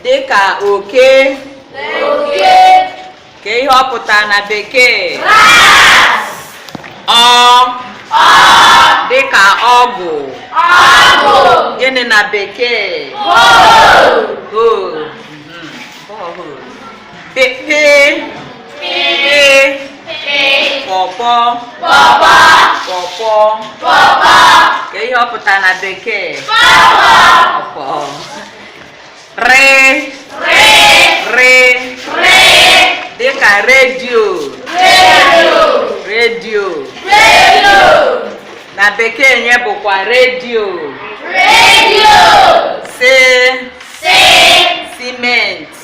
dịka oke kee ihe ọ pụtara na bekee ọ dịka ọgụ gịnị na bekee kee ihe ọ pụtara na bekee r dịka redio redio na bekee nye bụkwa redio redio si simenti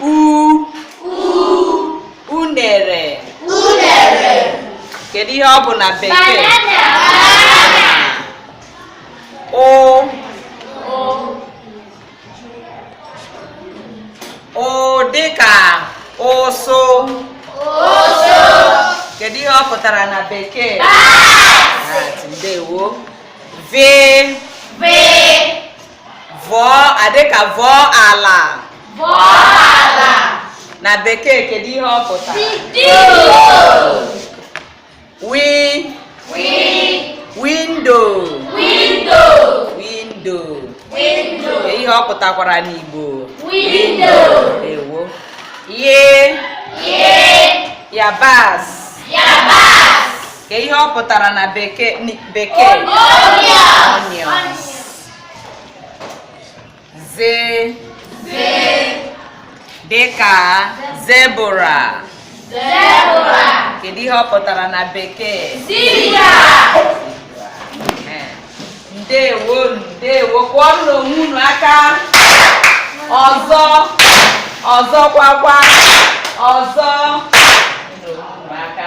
u unere unere kedu ihe ọ bụ na bekee ụ ụ dịka ụsụ kedu ihe ọ pụtara na bekee ndewo vee v dịka vọọ ala vọọ ala na bekee kedu ihe ọ pụtara wi wi windo windo windo windo ihe ọ pụtakwara n'igbo windo ndewo ye ye yabas yabas kee ihe ọ pụtara na bekee bekee onions ze dịka zebra kedu ihe ọ pụtara na bekee ndewo ndewo kụọnụ onwe unu aka ọzọ ọzọ kwakwa ọzọ aka